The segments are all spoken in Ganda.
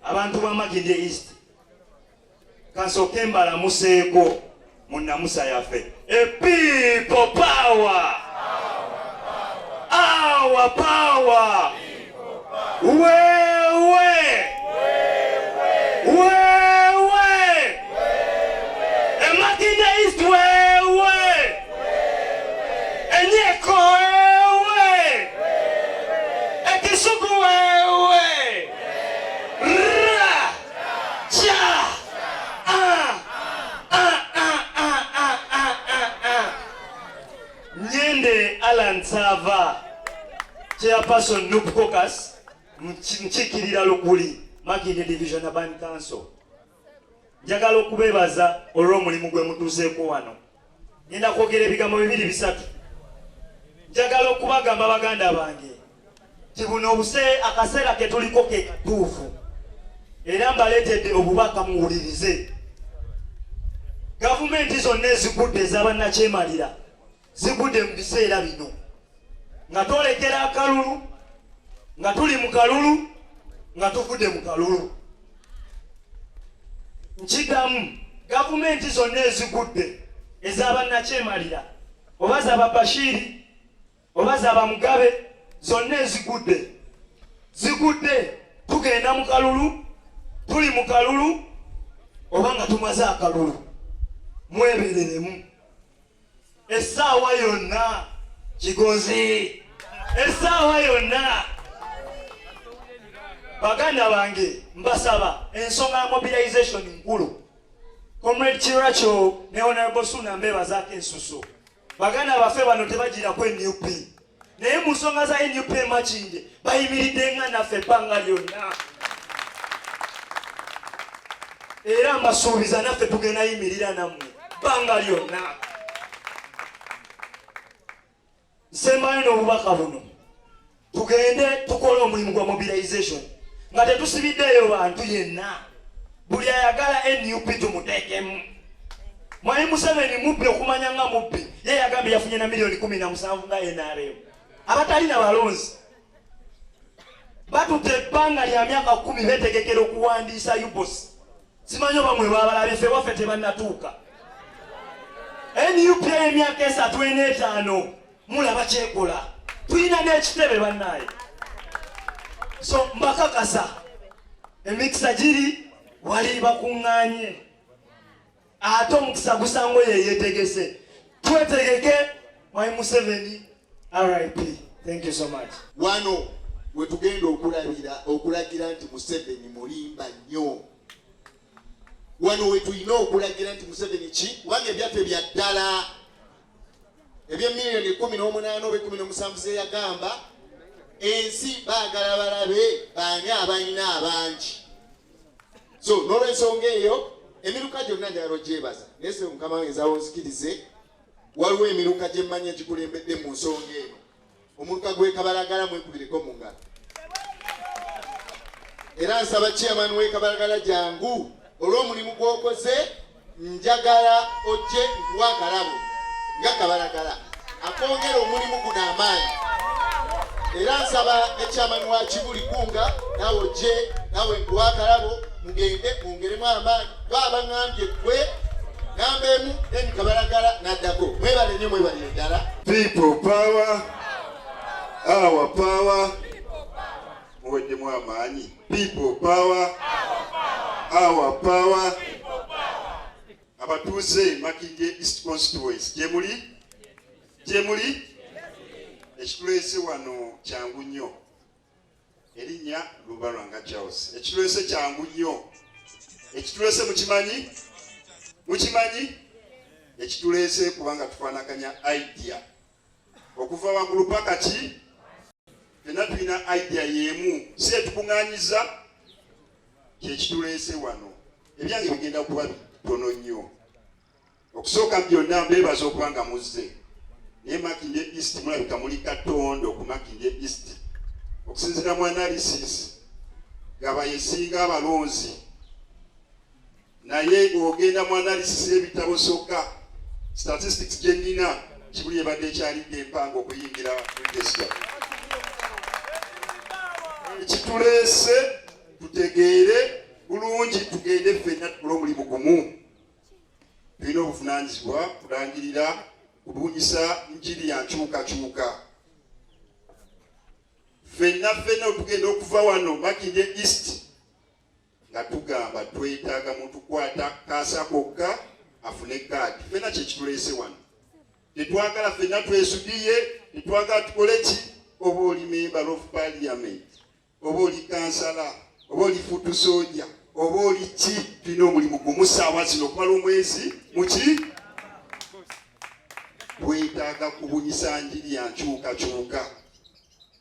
abantu ba Makindye East kasooke mbalamuseeko mu nnamusa yaffe epipo pawa awa pawa wewe wewe emakinde east wewe enyeko Nyende Alan Sava chairperson Nup Caucus mchikirira Lukuli Makindye Division Urban Council njagala okubeebaza olw'omulimu gwe mutuuseeko wano ngenda kwogera ebigambo bibiri bisatu njagala okubagamba baganda bange nti buno obuse akaseera ke tuliko ke katuufu era mbaleetedde obubaka muwulirize gavumenti zonna ezigudde ezabannakyemalira zigudde mu biseera bino nga twolekera akalulu nga tuli mu kalulu nga tuvudde mu kalulu nkidamu gavumenti zonna ezigudde ezabannakyemalira oba zaba bashiri oba zaba mugabe zonna ezigudde zigudde tugenda mu kalulu tuli mu kalulu oba nga tumaze akalulu mwebereremu essaawa yonna kigonzi essaawa yonna baganda bange mbasaba ensonga ya mobilization nkulu comrade kirakyo ne honorable suna mbebazaako ensusu baganda baffe bano tebagirako enup naye mu nsonga za nup makinde bayimiridde nga naffe ebbanga lyonna era mbasuubiza naffe tugenda yimirira nammwe ebbanga lyonna nsembayo n'obubaka buno tugende tukole omulimu gwa mobilization nga tetusibiddeeyo bantu yenna buli ayagala nup tumuteekemu Mwayi Museveni mubbi okumanya nga mubbi ye yagambye yafunye na milioni kumi na musanvu nga NRM abatalina balonzi batute ebbanga lya myaka kumi betegekera okuwandiisa UBOS simanyi oba mwe babalabye fe waffe tebanatuuka nup emyaka esatu enetaano mulaba kyekola tulina n'ekitebe bannaaye so mbakakasa emikisa giri wali bakuŋŋanye ate omukisa gusango yeyetegese twetegeke my museveni rip thank you so much wano wetugenda okulabira okulagira nti museveni mulimba nnyo wano wetulina okulagira nti museveni ki kubanga ebyaffe bya ddala ebyemiliyoni ekumi n'omunaana oba ekumi n'omusanvu zeyagamba ensi baagala balabe baani abalina abangi so n'olwensonga eyo emiruka gyonna njagala ogyebaza naye sebe mukama wange nzawo nzikirize waliwo emiruka gye mmanyi egikulembedde mu nsonga eno omuluka gwekabalagala mwekubireko mu ngalo era nsaba chairman w'ekabalagala jangu olw'omulimu gw'okoze njagala ojje nkuwa akalabo nga kabalagala akongera omulimu guno amaanyi era nsaba ekyamani wa kibuli kunga nawe ojje nawe nkuwa akalabo mugende mwongeremu amaanyi baabangambye gwe namba emu eni kabalagala naddako mwebale nyo mwebale eddala people power our power muweddemu amaanyi People power. Our power. Abatuuze Makindye East Constituency gyemuli gyemuli ekitulese wano kyangu nnyo erinnya Lubalwanga Charles ekitulese kyangu nnyo ekitulese mukimanyi mukimanyi ekitulese kubanga tufanaganya idea okuva waggulu paka ki fena tulina idea yemu si etukuŋanyiza kyekituleese wano ebyange bigenda kuba bitono nnyo okusooka byonna mbebaza okuba nga muzze naye makindye east mulabika muli katondo ku makindye east okusinzira mu analysis gaba yesinga abalonzi naye ogenda mu analysis y'ebitabo sokka statistics gye nnina kibuli ebadde ekyalidde empanga okuyingira mudesita ekituleese tutegeere bulungi tugende ffenna tukole omulimu gumu tulina obuvunanyizibwa kulangirira kubunyisa njiri ya nkyukakyuka ffenna ffenna otugenda okuva wano makinde east nga tugamba twetaaga mutukwata kaasa kokka afune kaadi fena kyekituleese wano tetwagala fena twesudiye tetwagala tukole ki oba oli member of parliament oba oli kansala oba oli futu soja oba oli ki tulina omulimu gumu saawa zino okumala omwezi muki twetaaga kubunyisa njiri yankyukakyuka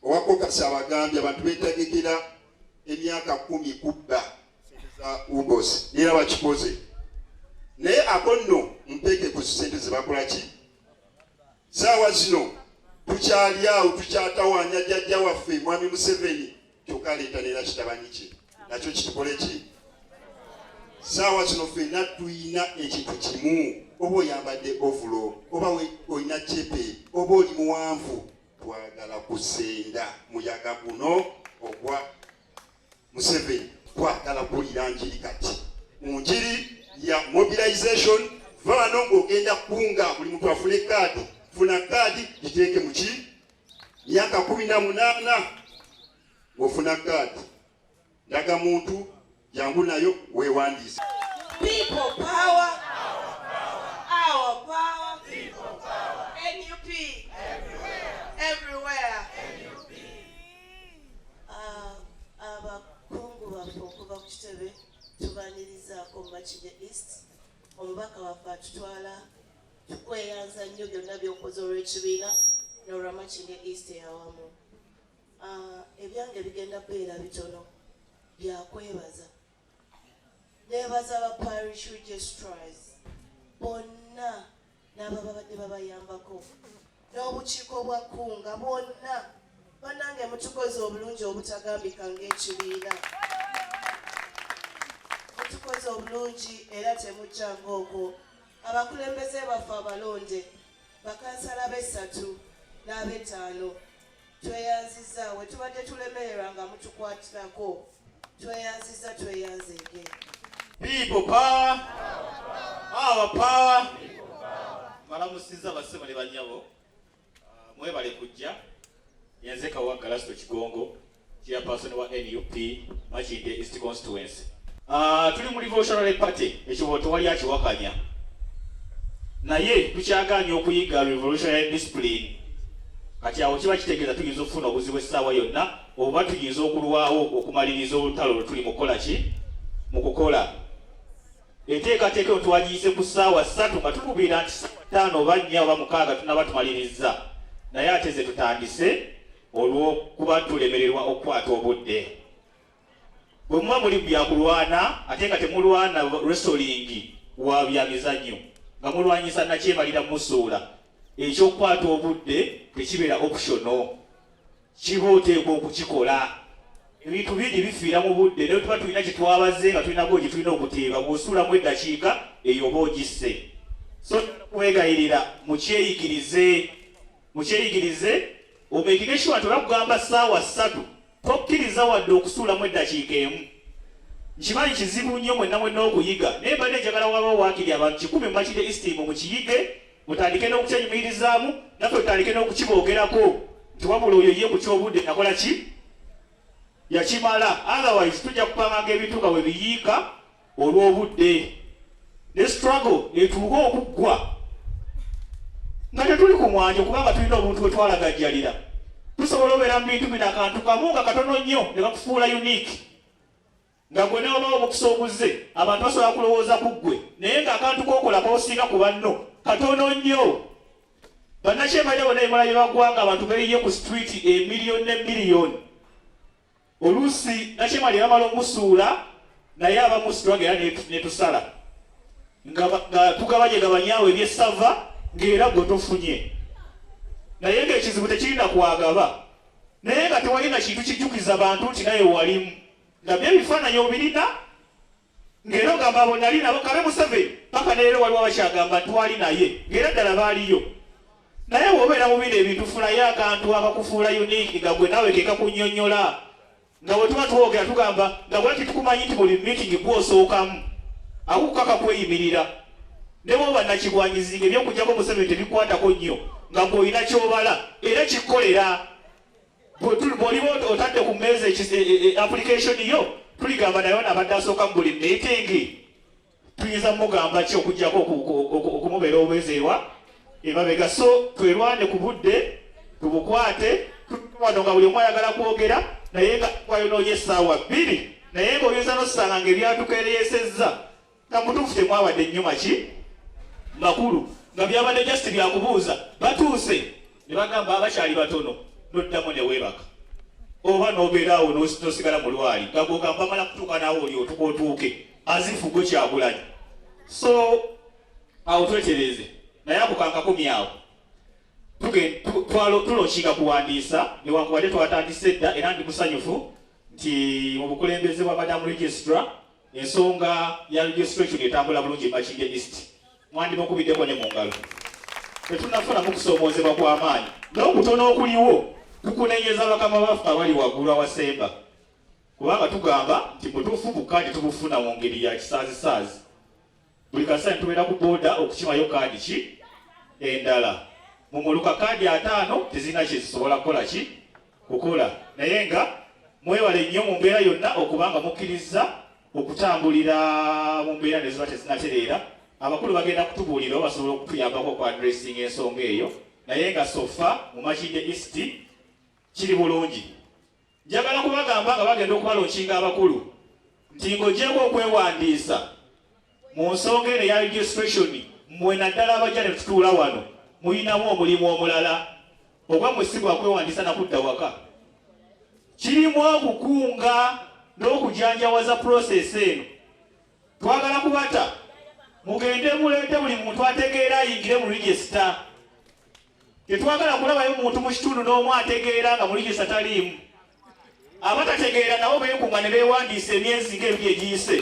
Owa Caucus abagambye abantu beetegekera emyaka kkumi kubba ssente za UBOS era bakikoze naye ako nno muteeke ku ssente ze bakola ki saawa zino tukyali awo tukyatawaanya jjajja waffe mwami Museveni kyokka aleeta neera kitabanyi kye nakyo kitukole ki saawa zino fenna tulina ekintu kimu oba oyambadde ovulo oba olina cepe oba oli muwanvu Twagala kusenda muyaga guno ogwa Museveni, twagala kuwulira njiri kati mu njiri ya mobilization. Va wano ng'ogenda kunga buli muntu afune kaadi, funa kaadi giteeke mu ki myaka kumi na munaana ng'ofuna kaadi Ndaga muntu jangu nayo wewandiise. People power. Our power. People power. NUP. Everywhere. Everywhere. NUP. Abakungu ah, ah, baffe okuva ku kitebe tubanirizaako Makindye East omubaka waffe atutwala tukweyanza nnyo byonna byokoze olw'ekibiina n'olwa Makindye East eyawamu Aah ebyange bigenda beera bitono bya kwebaza. Nebaza ba Parish Registrars bonna n'abababadde babayambako n'obukiiko bwa Kkunga bwonna banange mutukoze obulungi obutagambika ng'ekibiina mutukoze obulungi era temujjanga okwo abakulembeze baffe abalonde bakansala b'essatu n'ab'ettaano Tweyanziza wetubadde tulemererwa nga mutukwatirako tweyanziza tweyanzege people power our power balamusiza basebo ne banyabo ah, mwebale kujja yenze kawaggala sito kigongo Chairperson wa nup Makindye East Constituency. Uh, tuli mu Revolutionary Party ekibo tewali akiwakanya naye tukyagaanye okuyiga revolutionary discipline kati awo kiba kitegeeza tuyinza okufuna obuzibu essaawa yonna oba tuyinza okulwawo okumaliriza olutalo lwetuli mukukola ki mu kukola enteekateeka eno twagiyise ku ssaawa ssatu nga tukubira nti ssaawa ttaano oba nnya oba mukaaga tunaba tumalirizza naye ate ze tutandise olw'okuba tulemererwa okukwata obudde bwe muba muli byakulwana ate nga temulwana resolingi wa byamizannyo nga mulwanyisa nakyemalira musuula ekyokukwata obudde tekibeera optiono kiba oteekwa okukikola ebintu bingi bifiira mu budde naye tuba tulina kyetwabaze nga tulinako gye tulina okuteeba bwosuulamu eddakiika eyo oba ogisse so kwegayirira mukyeyigirize Mukyeyigirize, omeekige sure nti olakugamba ssaawa ssatu tokkiriza wadde okusuulamu eddakiika emu. Nkimanyi kizibu nnyo mwenna mwenna okuyiga naye mbadde njagala wabaawo waakiri abantu kikumi mumakide istiimu mukiyige mutandike n'okukyenyumiririzaamu naffe tutandike n'okukiboogerako nti wabula oyo ye ku ky'obudde nakola ki yakimala otherwise tujja kupanganga ebintu nga webiyiika olw'obudde ne struggle etuuka okuggwa nga tetuli ku mwanjo kubanga tulina omuntu we twalagajjalira tusobola obeera mu bintu bino akantu kamu nga katono nnyo ne bakufuula unique nga gwe newabawo omukisa oguzze abantu basobola kulowooza ku ggwe naye ng'akantu kokola kosinga ku banno katono nnyo bannakyemalira bona ebimala bye bagwanga abantu beyiye ku street emiliyoni ne miliyoni Oluusi Nakimali yamala omusuula naye abamu sitwaga era netusala nga tugabanye gabanyawo ebyessava ng'era gwe tofunye naye ng'ekizibu tekirina kwagaba naye nga tewalina kintu kijjukiza bantu nti naye walimu nga byo ebifaananyi obirina ng'era ogamba abo nali nabo kabe museveni paka neero waliwo abakyagamba twali naye ng'era ddala baaliyo naye wobeera mu bino ebintu fulayo akantu akakufuula unique nga gwe nawe kekakunyonyola nga wetuba twogera tugamba nga bwati tukumanyi nti buli meeting gwosookamu akukukaka kweyimirira nebwoba nakigwanyizinga ebyokujjako museveni tebikwatako nnyo nga gweolina kyobala era kikolera bwoliba otadde ku mmeeza e, e, e, application yo tuligamba naye abadde asooka mu buli miitingi tuyinza mugamba ki okujjako okumubeera obwezi ewa emabega so twelwane ku budde tubukwate wano nga buli omu ayagala kwogera naye nga kwayonoonya essaawa bbiri naye nga oyinza nosanga nga ebyatukeereyesezza nga mubutuufu temwabadde nnyo maki makulu nga byabadde just byakubuuza batuuse ne bagamba abakyali batono noddamu newebaka oba nobeeraawo nosigala mu lwali nga gwogamba mala kutuuka naawe oli otuka otuuke azifu gwe kyagulanyi so awo twetereeze naye akukankakumi awo tulokiika kuwandiisa newankubadde twatandise edda era ndi musanyufu nti mu bukulembeze bwa madamu registra Ensonga ya registration etambula bulungi Makindye East mwandimukubiddeko ne mu ngalo. Tetunnafunamu kusoomoozebwa kwa maanyi n'okutono okuliwo tukunenyeza bakama baffe abali waggulu awasemba kubanga tugamba nti butuufu bukkaadi tubufuna mu ngeri ya kisaazisaazi. Buli kasita tubeera ku booda okukimayo kaadi ki endala mu muluka kaadi ataano tezirina kye zisobola kukola ki kukola naye nga mwewale nnyo mu mbeera yonna okuba nga mukkirizza okutambulira mu mbeera ne ziba tezinatereera abakulu bagenda kutubuulira o basobola okutuyambako oku adressinga ensonga eyo naye nga sofa mu makinde east kiri bulungi Njagala kubagamba nga bagenda okubalookinga abakulu nti ng'ogyeko okwewandiisa mu nsonga eno eya registration mmwe naddala abajja ne tutuula wano mulinamu omulimu omulala oba mwe si gwakwewandiisa nakudda waka kirimu okukunga n'okujanjawaza process eno Twagala kubata mugende muleete buli muntu ategeera ayingire mu regisita. Tetwagala kulabayo muntu mu kitundu n'omu ategeera nga mu regisita taliimu. Abatategeera nabo beekunga ne beewandiisa emyezi nga ebiri egiyise.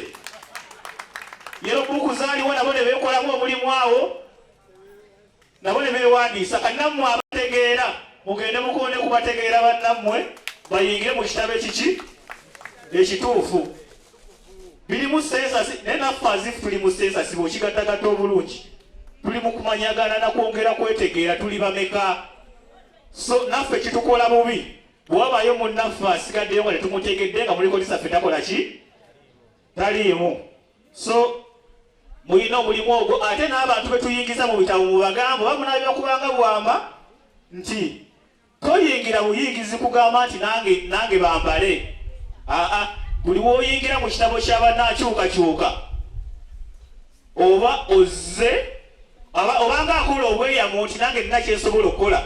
Yero buku zaaliwo nabo ne beekolamu omulimu awo. nabo ne beewandiisa kati nammwe abategeera mugende mukonde ku bategeera bannammwe bayingire mu kitabo ekiki ekituufu biri mu sensasi naye naffe azifu tuli mu sensasi bweokigattagatta obulungi tuli mu kumanyagana na kwongera kwetegeera tuli bameka so naffe kitukola bubi bwewabayo munnaffe asigaddeyo nga tetumutegedde nga muliko lisaffe takola ki taliimu so mulina omulimu ogwo ate n'abantu betuyingiza mu bitabo mubagambo bamunabira kubanga bwamba nti toyingira buyingizi kugamba nti nange nange bambale aa buli woyingira mu kitabo kyabanakyukakyuka oba ozze obanga akola obweyamu nti nange nina kyensobola okukola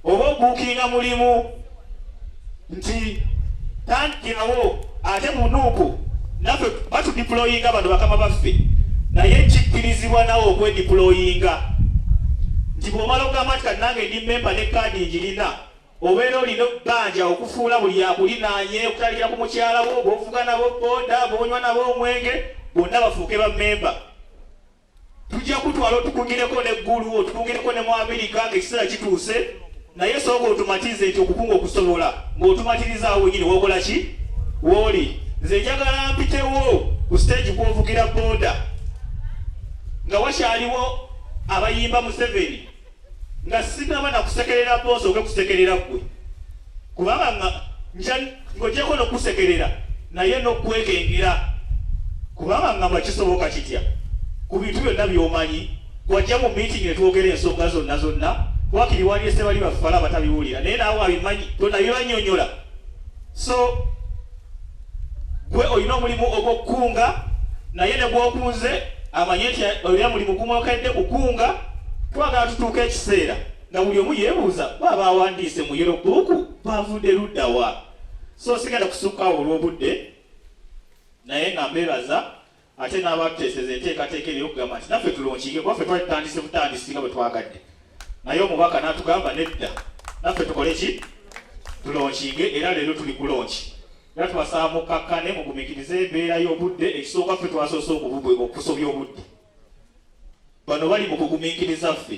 oba obuukinga mulimu nti tantyawo ate munuuku naffe batudiployinga abantu bakama baffe naye kikkirizibwa nawe okwediployinga nti bwomala ogamba nti kati nange ndi memba ne kaadi ngirina Obeera olina okubanja okufuula buli akulinaanye okutandikira ku mukyala wo, b'ovuga nabo boda, b'onywa nabo omwenge, bonna bafuuke bammemba. Tujja kutwala otukugireko ne Ggulu, otukugireko ne mu Amerika ng'ekiseera kituuse, naye sooka otumatize nti okukunga okusobola ng'otumatirizaawo wenyini wokola ki wooli. Nze njagala mpitewo ku siteegi kw'ovugira boda nga wakyaliwo abayimba Museveni. nga sinaba nakusekerera boosi oge kusekerera gwe kubanga nga nja ngojeko nokusekerera naye nokwekengera kubanga nga mwakisoboka kitya ku bintu byonna byomanyi wajja mu meeting netwogera ensonga zonna zonna wakiri waliese bali bafala abatabiwulira naye naawe abimanyi tonabibanyonyola so Gwe olina omulimu ogw'okukunga, naye ne bw'okunze amanye nti olina mulimu gumwokedde kukunga. Twagala tutuuke ekiseera nga buli omu yeebuuza bo abaawandiise mu Yellow Book baavudde ludda wa? So sigenda kusukka awo olw'obudde naye nga mbeebaza Ate n'abaatuteeseza enteekateeka eno ey'okugamba nti naffe tulonkinge kuba ffe twali tutandise butandisi nga bwe twagadde, naye omubaka n'atugamba nedda, naffe tukole ki? Tulonkinge era leero tuli ku lonki. Era tubasaba mukkakkane, mugumiikirize embeera y'obudde. Ekisooka ffe twasoose okusobya obudde, bano bali mu kugumiikiriza ffe.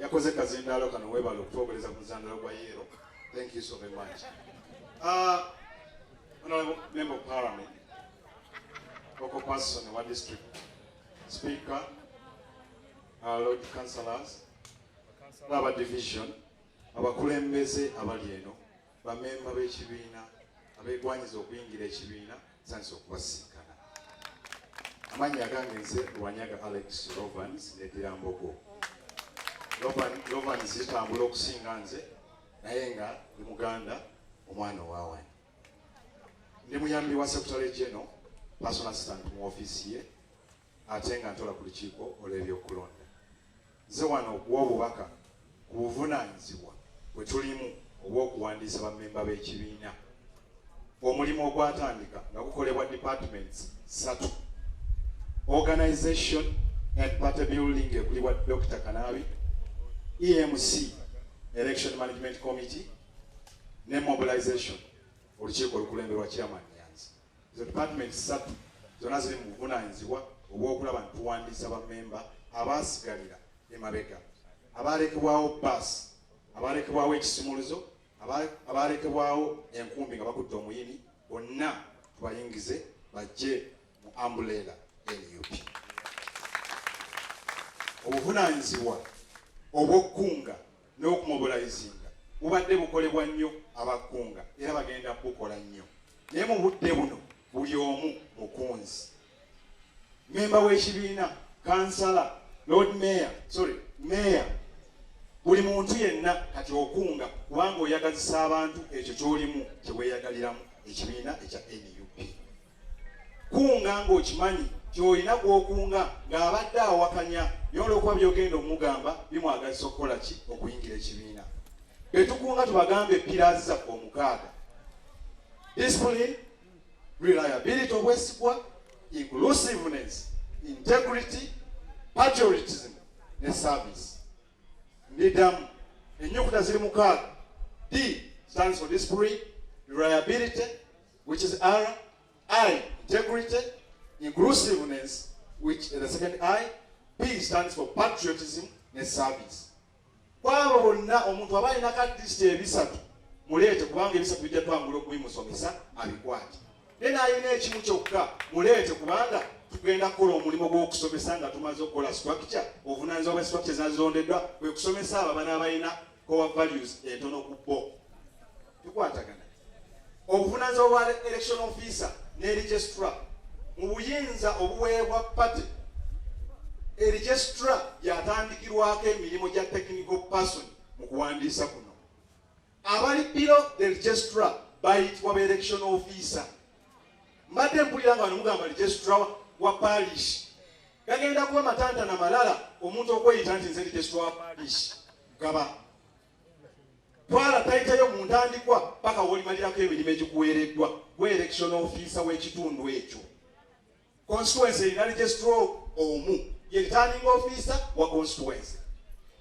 yakoze kazindaalo kano webale okutuwogereza ku muzandalo gwa yeero thank you so very much uh, honorable member of parliament local person wa district speaker uh, lord councillors laba division abakulembeze abali eno Bamemba b'ekibiina abeegwanyiza okuyingira ekibiina nsanyusa okubasisinkana. Amannya gange nze Wanyaga Alex Rovans neddira Mbogo. Rovans zitambula okusinga nze naye nga ndi muganda omwana owawani ndi muyambi wa secretary general personal assistant mu office ye ate nga ntola ku lukiiko olw'ebyokulonda Nze wano okuwa obubaka ku buvunaanyizibwa bwe tulimu obw'okuwandiisa bammemba b'ekibiina. Omulimu ogwatandika nga gukolebwa departments ssatu, Organization and Party Building ekulibwa Dokita Kanaabi, EMC, Election Management Committee, ne Mobilization, olukiiko olukulemberwa Chairman Nyanzi. Ezo department ssatu zonna ziri mu buvunaanyizibwa obw'okulaba nti tuwandiisa ba memba abaasigalira emabega, abaalekebwawo bbaasi, abaalekebwawo ekisumuluzo, abaalekebwawo enkumbi nga bakutte omuyini bonna tubayingize bajje mu ambuleera nup. Obuvunaanyizibwa obw'okukunga n'okumobulayizinga bubadde bukolebwa nnyo aba Kkunga era bagenda kubukola nnyo naye mu budde buno buli omu mukunzi mmemba w'ekibiina kansala lord mayor sorry mayor buli muntu yenna kati okunga kubanga oyagazisa abantu ekyo kyolimu kyeweyagaliramu ekibiina ekya nup kunga ng'okimanyi gy'olina gw'okunga ng'abadde awakanya naye olwokuba byogenda omugamba bimwagazisa okukola ki okuyingira ekibiina betukunga tubagambe pirazi zaffe omukaaga discipline reliability obwesigwa inclusiveness integrity patriotism ne service ndidamu ennyukuta ziri mukaaga d stands for discipline reliability which is R, I, integrity, inclusiveness, which is the second I, P stands for patriotism ne service. Kwabo bonna omuntu aba alina ka district ebisatu muleete kubanga ebisatu bijja twangula okubimusomesa abikwate. Naye n'alina ekimu kyokka muleete kubanga tugenda kukola omulimu gw'okusomesa nga tumaze okukola structure obuvunaanyizibwa bwa structure zazondeddwa kwe kusomesa abo abana abalina core values entono ku bo tukwatagana obuvunanyizibwa bwa election officer ne registra mu buyinza obuweebwa party eregistra yatandikirwako emirimu gya technical person mu kuwandiisa kuno abali piro the registra bayitibwa ba election officer mbadde mpulira nga nomugamba registra wa parish gagenda kuba matantana malala omuntu okweyita nti nze registra wa parish gaba twala tayitayo mu ntandikwa paka wolimalirako emirimu egikuweereddwa gwe election ofiisa w'ekitundu ekyo constituency erina registro omu ye returning officer wa constituency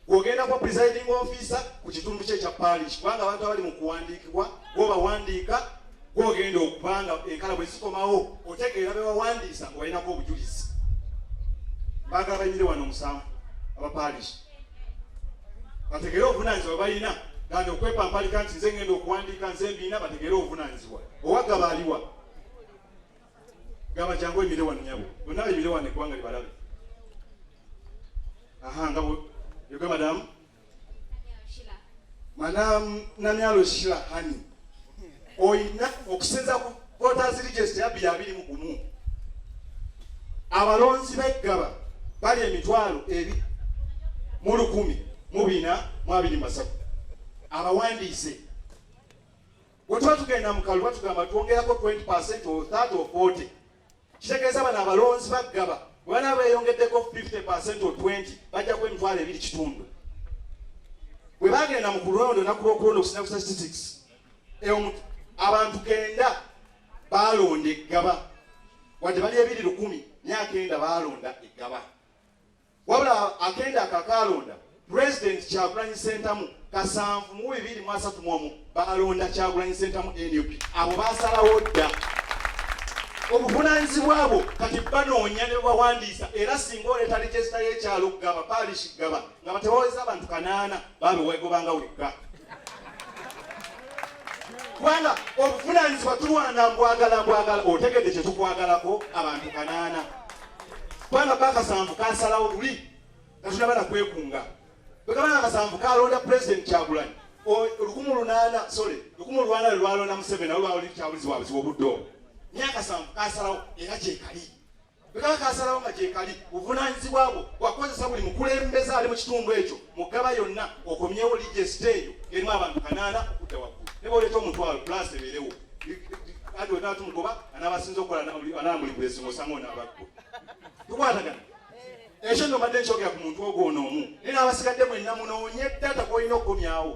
gwogenda kwa presiding officer ku kitundu kye ekya parish kubanga abantu abali mu kuwandiikibwa gwobawandiika gwogenda okubanga enkala bwe zikomawo otegeera bewawandiisa nga olinako obujulizi bagala banyire wano omusanvu aba parish bategere obuvunanyizibwa balina gandi okwepampalika nti nze ngenda okuwandiika nze mbiina bategere obuvunanyizibwa owagaba aliwa gaba jangu ebire wano nyabo bonna bebire wano eggwanga libalabe aha nga yoga madamu manamyalo shila hani oyina okusinza ku voters register ya biri abiri mu gumu abalonzi beggaba bali emitwalo ebi mu lukumi mu bina mu abiri masatu abawandiise bwe tuba tugenda mu kalulu batugamba twongerako 20 percent or 30 or 40 kitegeeza bano abalonzi baggaba bwana beyongeddeko 50 or 20 bajja kuba emitwalo ebiri kitundu bwe bagenda mu kulonda onaku lwokulonda okusina ku statistics abantu kenda baalonda eggaba wadde bali ebiri lukumi myaka enda baalonda eggaba Wabula akenda akakaalonda President Kyagulanyi Sentamu kasanvu mu bibiri mu asatu mu omu baalonda Kyagulanyi Sentamu nup abo baasalawo dda obuvunanyizibwa bwo kati banoonya ne bawandiisa era singa oleeta lijesita y'ekyalo gaba paalishi gaba nga batewaweza abantu kanaana baabe wegobanga wekka kubanga obuvunanyizibwa tulwana mbwagala mbwagala otegedde kyetukwagalako abantu kanaana kubanga bakasanvu kasalawo luli katunaba nakwekunga bwekabanga akasanvu kalonda president kyagulanyi olukumu lunaana sorry lukumu lwana lwelwalonda museveni awe bawuliri kyabulizi wabuzi wobudde obwo myakasanvu kasalawo era kyekali bwekaba kasalawo nga kyekali buvunanyizibwa bwo wakukozesa buli mukulembeza ali mu kitundu ekyo mugaba yonna okomyewo lijesite eyo erimu abantu kanaana okudda waggulu ne bwoleeta omutwalo pulasi ebeerewo kati wetaba tumugoba anabasinza okukola anamuli kulesinga osanga onabaggo tukwatagana ekyo nno mbadde nkyogera ku muntu ogwo ono omu naye n'abasigadde mwenna munoonye data gwolina okukomyawo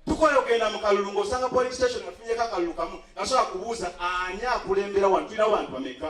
tukola ogenda mu kalulu ng'osanga police station afunyeko akalulu kamu nasobola kubuuza ani akulembera wano tulina bantu bameka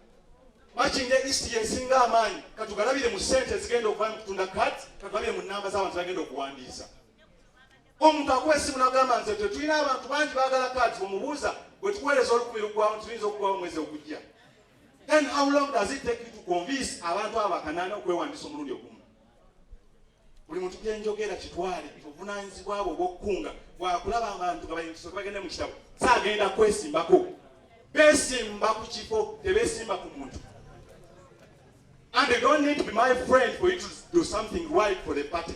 Makindye East y'esinga amaanyi katugalabire mu ssente ezigenda okuba mu kutunda kat katugalabire mu nnamba z'abantu bagenda okuwandiisa omuntu akuwa essimu nagamba nze te tulina abantu bangi bagala kat omubuuza bwe tukuweereza olukumi lugwawo tuyinza okuwawo omwezi ogujja then how long does it take you to convince abantu abo bakanaana okwewandiisa omulundi ogumu buli muntu gyenjogera kitwale obuvunaanyizibwa bwe obwokukunga bwakulaba abantu nga bayingisoke bagende mu kitabo saagenda kwesimbako besimba ku kifo tebesimba ku muntu and they don't need to be my friend for you to do something right for the party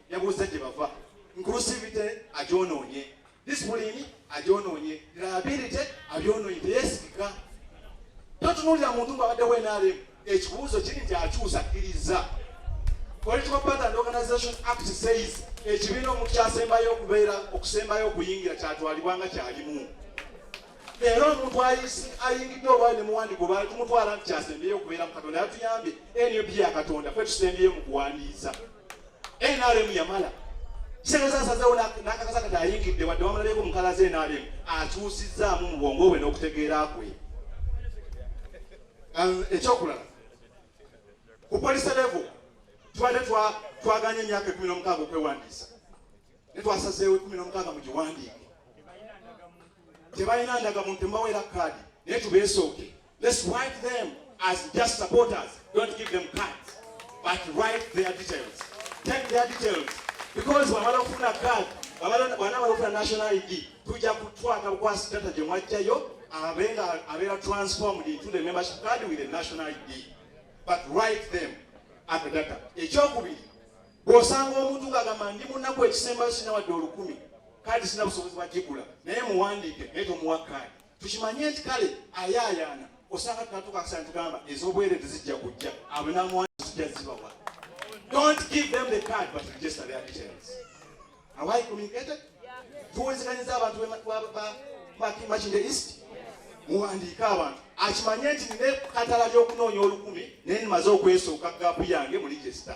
Yabuuza gye bava. Inclusivity agyonoonye, discipline agyonoonye, reliability abyonoonye, teyeesigika. Totunuulira muntu ng'abaddewo NRM. Ekibuuzo kiri nti akyusa akkiriza. Political Party and Organization Act says ekibiina omuntu kyasembayo okubeera okusembayo okuyingira kyatwalibwa nga kyalimu. Leero omuntu ayisi ayingidde olwali ne muwandi gwe baali tumutwala nti kyasembyeyo okubeera mu Katonda yatuyambye NUP ya Katonda kwe tusembyeyo mu kuwandiisa NRM yamala Sengeza asazeewo n'akakasa kati ayingidde wadde wamulabyeko mukala ze NRM akyusizzaamu mu bwongo bwe n'okutegeera kwe ekyokulala ku polisi levo twali twaganya emyaka ekumi n'omukaaga okwewandiisa ne twasazeewo ekumi nomukaaga mugiwandiike tebalina ndaga muntu mbaweera kaadi naye tubeesooke let's write them as just supporters don't give them cards but write their details take their details because wamala okufuna card bwana balokula national id tujja kutwaka bukwasi data gye mwajjayo abenga abeera transformed into the membership card with a national id but write them at the data ekyokubiri Bw'osanga omuntu ng'agamba ndi mu nnaku ekisembayo sirina wadde olukumi, kaadi sirina busobozi bwa gigula, naye muwandiike naye tomuwa kaadi. Tukimanye nti kale ayaayaana osanga tunatuuka akaseera tugamba ez'obwereere zijja kujja abo n'amuwandiika zijja zibawa. Don't give them the card but register their details. Have I communicated? Tuwuliziganyiza abantu Makindye East muwandiike abantu akimanye nti nine katala ly'okunoonya olukumi naye nimaze okwesooka gaapu yange mu register.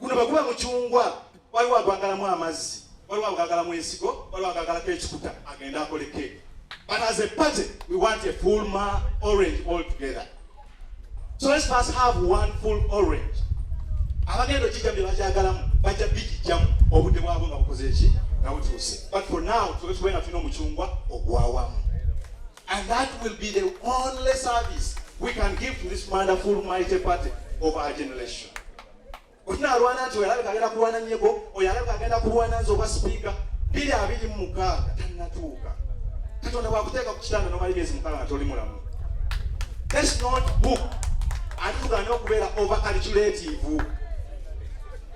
guno bwe guba mucungwa waliwo agwagalamu amazzi waliwo agwagalamu ensigo waliwo agwagalako ekikuta agende akole keeki but as a party we want a full ma orange all together so let's first have one full orange abagenda okijjamu bye bakyagalamu bajja bikijjamu obudde bwabwe nga bukoze eki nga butuuse but for now tube tube nga tulina omucungwa ogwawamu and that will be the only service we can give to this wonderful mighty party of our generation Oyo alwana nti oyo alabika agenda kulwana nyego, oyo alabika agenda kulwana nze obwa sipiika. Biri abiri mu mukaaga tannatuuka. Katonda bw'akuteeka ku kitanda n'omala emyezi mukaaga nga toli mulamu. That's not book. Ate tugaana okubeera over calculative.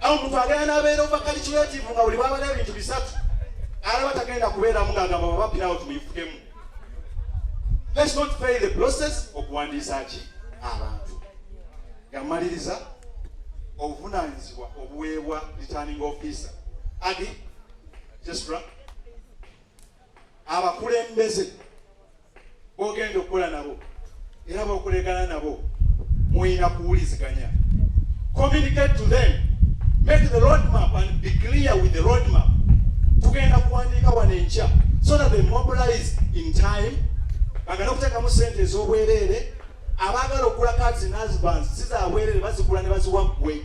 Awo omuntu agenda n'abeera over calculative nga buli bwaba n'ebintu bisatu alaba tagenda kubeeramu ng'agamba baba pirawo tumuyifukemu. Let's not fail the process okuwandiisa ki abantu. gamaliriza obuvunaanyizibwa obuweebwa returning officer agi jesra abakulembeze bogenda okukola nabo era bokulegana nabo mulina kuwuliziganya communicate to them make the road map and be clear with the road map tugenda kuwandiika wano enkya so that they mobilize in time bagala okuteekamu sente ez'obwereere abaagala okugula cards in husbands si za bwerere bazigula ne baziwa ggwe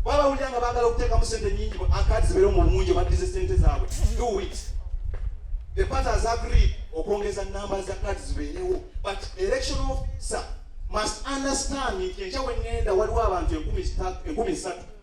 baba bawulira nga baagala okuteekamu sente nyingi akadi zibeere mu bungi baddize sente zaabwe do it the party has agreed okwongeza namba za kadi zibeerewo but election officer must understand nti enkya wengenda waliwo abantu enkumi satu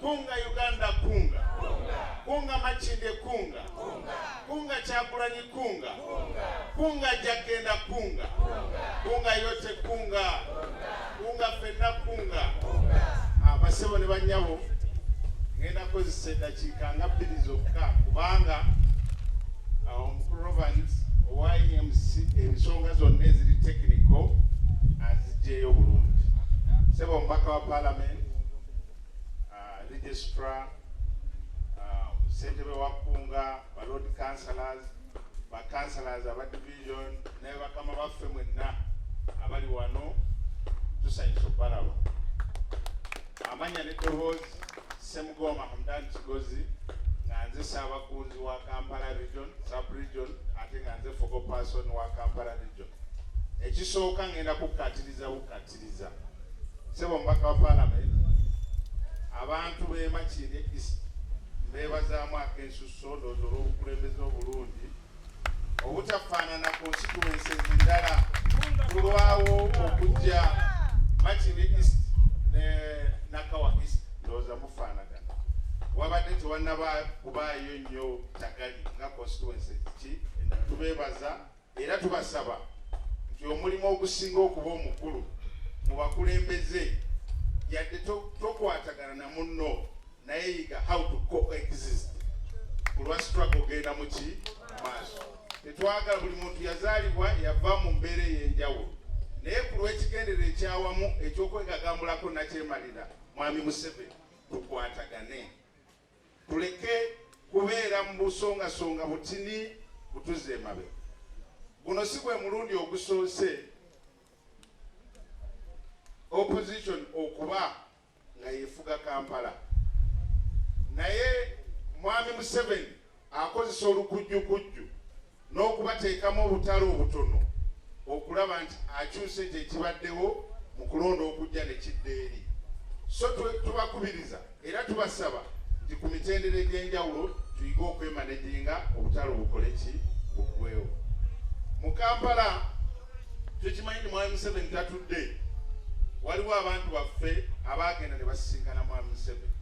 Kunga Uganda kunga. Kunga Makinde kunga. Kunga Kyagulanyi kunga. Kunga jagenda kunga. Kunga yote kunga. Kunga fenna kunga. Abasebo ah, ne banyabo ngenda kozesa eddakiika nga bbiri zokka kubanga ah, omukulu Roberts owa EMC ensonga zonna eziri tekiniko azijjeeyo bulungi. Sebo omubaka wa palamenti uh, registrar uh, ssentebe wa kkunga ba lord councilors ba councilors aba division naye bakama baffe mwenna abali wano tusanyusa okubalaba amanya ne dowoozi semugooma hamdan kigozi nga nze ssaabakunzi wa kampala region sub region ate nga nze fogo person wa kampala region ekisooka ngenda kukkatiriza bukkati Nziza. Sebo mubaka wa parliament abantu bemakiri east mbebazaamu akensusso ndoozi olw'obukulembeze obulungi obutafaanana ku nsituwensi ezindala kulwawo okujja makiri east ne nakawa east ndooza mufaanagana wabadde tewannaba kubaayo nnyo tagali nga constituensi ki tubebaza Era tubasaba nti omulimu ogusinga okuba omukulu mu bakulembeze yadde tokwatagana na munno naye yiga how to coexist kulwa struggle genda muki maaso tetwagala buli muntu yazaalibwa yava mu mbeera ey'enjawulo naye ku lw'ekigendera ekyawamu ekyokwegagambulako nakyemalira mwami museveni tukwatagane Tuleke kubeera mu busongasonga butini butuzza emabega. Guno si gwe mulundi ogusoose opposition okuba nga yefuga Kampala naye Mwami Museveni akozesa olukujjukujju n'okubateekamu obutale obutono okulaba nti akyusa ekyo ekibaddewo mu kulonda okujja ne kidda eri so tubakubiriza era tubasaba nti ku mitendera egy'enjawulo tuyige okwemaneginga obutale obukole ki buggwewo mu kampala tukimanyi nti mwami museveni tatudde waliwo abantu baffe abaagenda ne basisinkana mwami museveni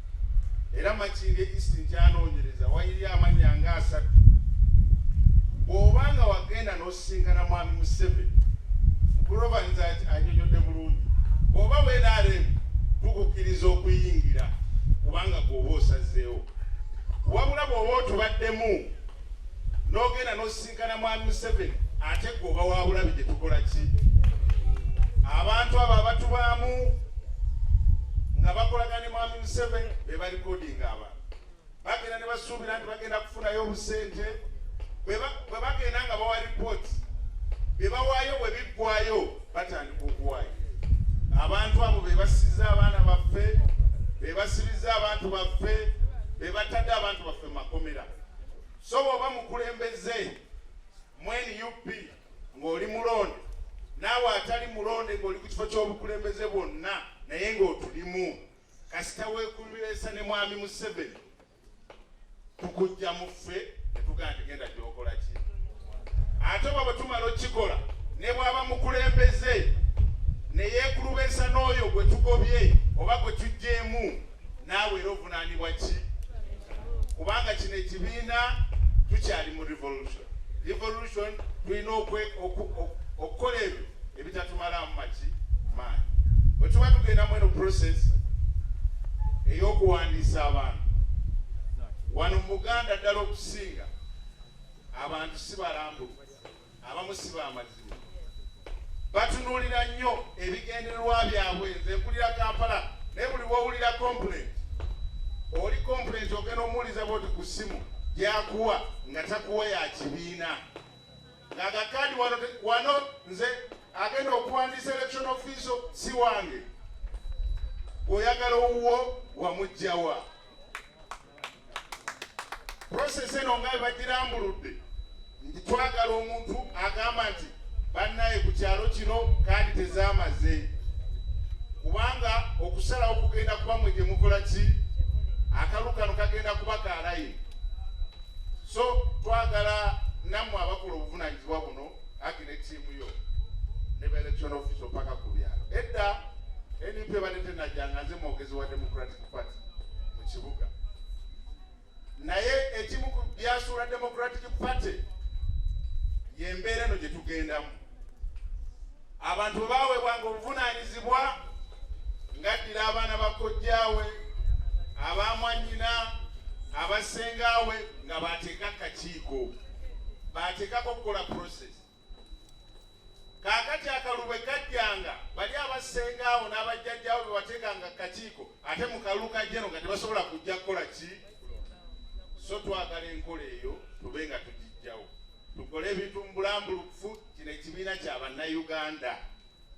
era makinga east nkyanoonyereza wayiri amanya nga asatu bw'oba nga wagenda n'osisinkana mwami museveni mukurobanza anyonyodde bulungi bw'oba wenaremu tukukkiriza okuyingira kubanga gweoba osazeewo wabula bw'oba otubaddemu n'ogenda n'osisinkana Sikana mwami Museveni ate gwe oba wabulabi gye tukola ki abantu abo abatubaamu nga bakolaga ne mwami Museveni be balikodinga abantu bagenda ne basuubira nti bagenda kufunayo obusente bwe bagenda nga bawa ripooti bye bawaayo bwe biggwayo batandika okuwaayo abantu abo be basiza abaana baffe be basibizza abantu baffe be batadde abantu baffe mu makomera So bwoba mukulembeze mu nup ng'oli mulonde naawe atali mulonde ng'oli ku kifo ky'obukulembeze bwonna naye ng'otulimu kasita weekuleesa ne mwami museveni tukujja mu ffe netugaa tigenda gyokola ki ate oba bwe tumala okukikola ne bwaba mukulembeze ne yeekulubeesa n'oyo gwe tugobye oba gwe tujjeemu naawe era ovunaanibwa ki kubanga kino ekibiina tukyali mu revolution revolution tulina okukola ebyo ebitatumalaamu maki maanyi bwe tuba tugenda mu eno process ey'okuwandiisa abantu wano mu buganda ddala okusinga abantu si balambulu abamu si bamazima batunulira nnyo ebigendererwa byabwe nze nkulira kampala naye buli wowulira complaint oli complaint ogenda omuwuliza bwoti ku ssimu gyakuwa nga takuwa ya kibiina ngagakadi wano wano nze agenda okuwandiisa election offiso si wange oyagala owuwo wamugjawa process eno nga bebagirambuludde nti twagala omuntu agamba nti bannaye ku kyalo kino kandi tezamaze kubanga okusalawo kugenda kuba mwe gyemukola ki akalu kano kagenda kuba kalaye so twagala nammwe abakola obuvunanyizibwa buno agi ne tiimu yo ne baelection office opaka ku byalo edda np ebadde tenajanga nze mwogezi wa democratic party mu kibuga naye ekimu ku byasuula democratic party yembeera eno gye tugendamu abantu bawebwanga obuvunanyizibwa ngaddira abaana bakojjaawe abamwanyina abasengaawe nga bateeka kakiiko bateekako okukola process kaakati akalulu bwe kajjanga bali abassenga awo n'abajjajjawo be wateekanga kakiiko ate mu kalulu kajjeno nga tebasobola kujja kukola ki so twagala enkola eyo tube nga tugijjawo tukole ebintu mu bulambulukufu kino ekibiina kya bannayuganda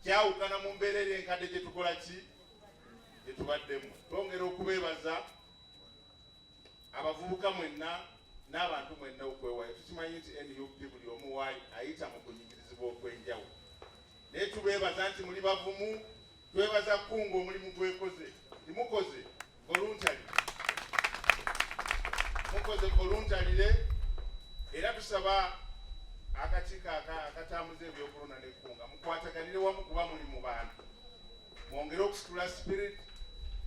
kyawukana mu mbeera eri enkadde gye tukola ki gye tubaddemu twongera okubeebaza abavubuka mwenna n'abantu mwenna okwewayo tukimanyi nti nup buli omu waali ayita mu kunyigirizibwa okw'enjawo naye tubeebaza nti muli bavumu twebaza kukunga omulimu gwekoze timukoze voluntalire mukoze voluntalire era tusaba akakiiko akatambuza ebyokulonda nekunga mukwataganire wamu kuba muli mu bantu mwongere okusitula spirit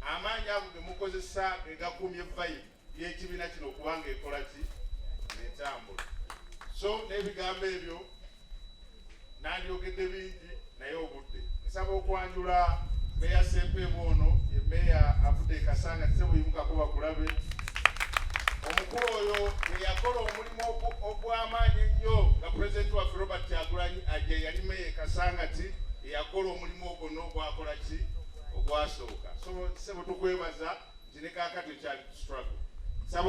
amaanyi ago gemukozesa gegakumye vayi yekibiina kino okubanga ekola ki netambula so n'ebigambo ebyo nandyogedde bingi naye obudde nsaba okwanjula meya sempeemu ono emeya avudde ekasanga tisebuyimukaku bakulabe omukulu oyo eyakola omulimu ogw'amaanyi ennyo nga pulezidenti waffe robert kyagulanyi aje yali meya ekasangati eyakola omulimu ogwo n'ogwakola ki ogwasooka so sebo tukwebaza nti ne kakati okyali struggle